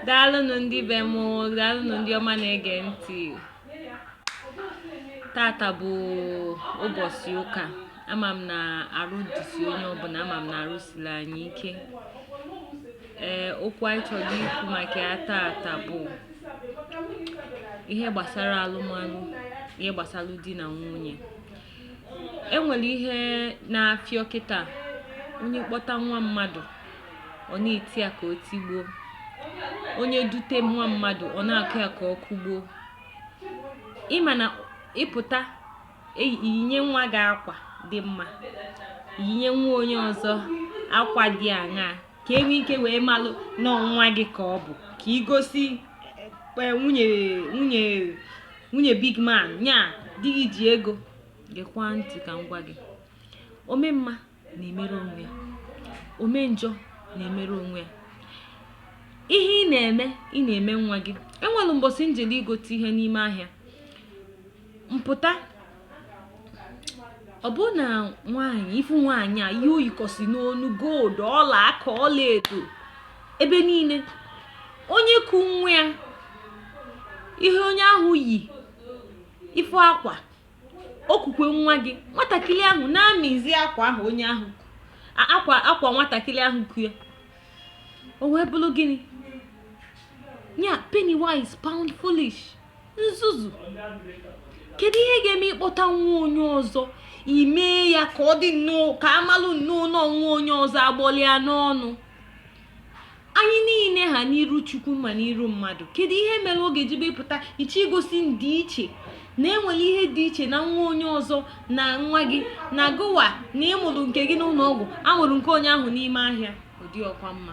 daalụnụ ndị be m daalụnụ ndị ọma na-ege ntị tata bụ ụbọchị ụka ama m na arụ dịsi onye ọbụla ama m na arụ siri anyị ike ee okwu anyị chọrọ ikwu maka ya tata bụ ihe gbasara alụmalụ ihe gbasara di na nwunye e nwere ihe na-afịọ kịta onye kpọta nwa mmadụ ọ na-eti ya ka o tigbuo onye dute nwa mmadụ ọ na-akụ ya ka ọ kụgbuo ịma na ịpụta eyi- iyinye nwa gị akwa dị mma yinye nwa onye ọzọ akwa dị aṅaa ka enwe ike wee malụ na ọ nwa gị ka ọ bụ ka igosi eh, nwunye nwunye nwunye big man nya di gị ji ego gekwa ntị ka m gwa gị ome mma na-emere onwe ya ome njọ na-emere onwe ya ihe ị na-eme ị na-eme nwa gị enwere mbọsị m jelu igote ihe n'ime ahịa m pụta ọ bụrụ na nwaanyị ịfụ nwaanyị a ihe o yikọsị n'onu gold ọla aka ọla edo ebe niile onye ku nwa ya ihe onye ahụ yi ịfụ akwa o kukwe nwa gị nwatakịrị ahụ na-amịzi akwa ahụ onye ahụ ku akwa nwatakịrị ahụ ku ya o wee bụrụ gịnị ya penny wise pound foolish nzuzu kedu ihe ga-eme ịkpọta nwa onye ọzọ imee ya ka ọ dị nnọọ ka amalụ nnọọ nwa onye ọzọ agbọlịa n'ọnụ anyị niile ha n'iru chukwu ma n'iru mmadụ kedu ihe mere ọ ga-eji bụ ịpụta iche igosi ndịiche na enwere ihe dị iche na nwa onye ọzọ na nwa gị na gụwa na ịmụrụ nke gị n'ụlọ ọgwụ amụrụ nke onye ahụ n'ime ahịa ọ dịrọkwa mma